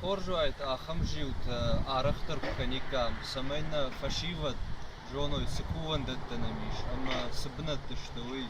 Хорз уаид ахӕм зиутӕ арӕхдӕр куы кӕниккам, цӕмӕй нӕ фӕсивӕд зоной, цы кувӕндӕттӕ нӕм ис ӕмӕ цы бынӕтты сты, уый,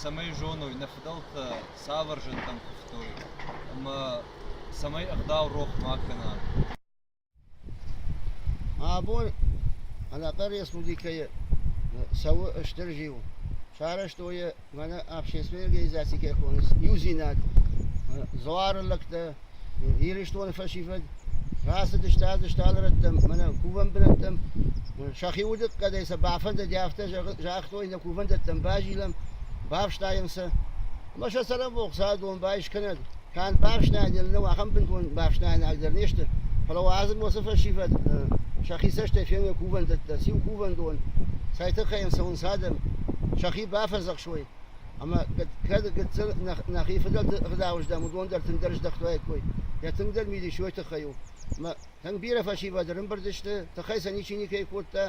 цӕмӕй зоной, нӕ фыдӕлтӕ цавӕр зынтӕм куывтой ӕмӕ цӕмӕй ӕгъдау рох ма кӕна. Абон ӕнӕхъӕн республикӕйы цӕуы стыр зиу, сарӕзтой йӕ мӕнӕ общественной организаци кӕй хоны Иудзинад, Дзуары лӕгтӕ, Ирыстоны фӕсивӕд. Рацыдысты ӕдзыст алырӕттӕм, мӕнӕ кувӕн бынӕттӕм. Сӕхи удыхъӕдӕй сӕ бафӕндыди, афтӕ загътой, нӕ кувӕндӕттӕм базилӕм, бафстайӕм сӕ. Ӕмӕ сӕ цӕрӕнбон Хуыцауы дон байс кӕнӕд! канд бӕхстӕйӕн нӕ нӕу ахӕм бынтон бӕхстӕйнаг дӕр не сты, фӕлӕ уӕ азым уыцы фӕсивӕд сӕхи цӕстӕй феной кувӕндӕттӕ, циу кувӕндон, цай тыххӕй йын цӕуынц адӕм, сӕхи бафӕдзӕхсой, ӕмӕ кӕд гыццыл нӕхи фыдӕлты рдауыздӕм, уыдон дӕр тынгдӕр здӕхтуаиккой, йӕ тынгдӕр мидис уой тыххӕй у. Ӕмӕ тынг бирӕ фӕсивӕд ӕрымбырд сты, тыхӕй сӕ ничи никӕй кодта.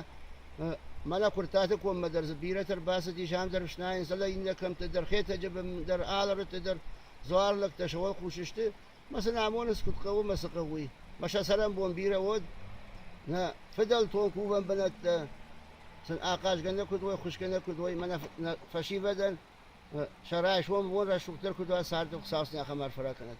Мӕнӕ Куртаты коммӕ дӕр дзы бирӕтӕ ӕрбацыди, зӕндӕр снайынц, фӕлӕ иннӕ кӕмтты дӕр, Хетӕджы бын дӕр, Алырыдты дӕр, Дзуар лӕгтӕ сӕ уӕлхъус сты, мӕ сын амонынц, куыд хъӕуы мӕ цы хъӕуы, уый. Мӕ сӕ цӕрӕнбон бирӕ уӕд, нӕ фыдӕлтон кувӕн бынӕттӕ сын ахъазгӕ нӕ куыд уой, хуысгӕ нӕ куыд уой, мӕнӕ нӕ фӕсивӕдӕн сӕ райсом бон рӕсугъддӕр куыд уа, царды Хуыцау сын ахӕм арфӕ ракӕнӕд.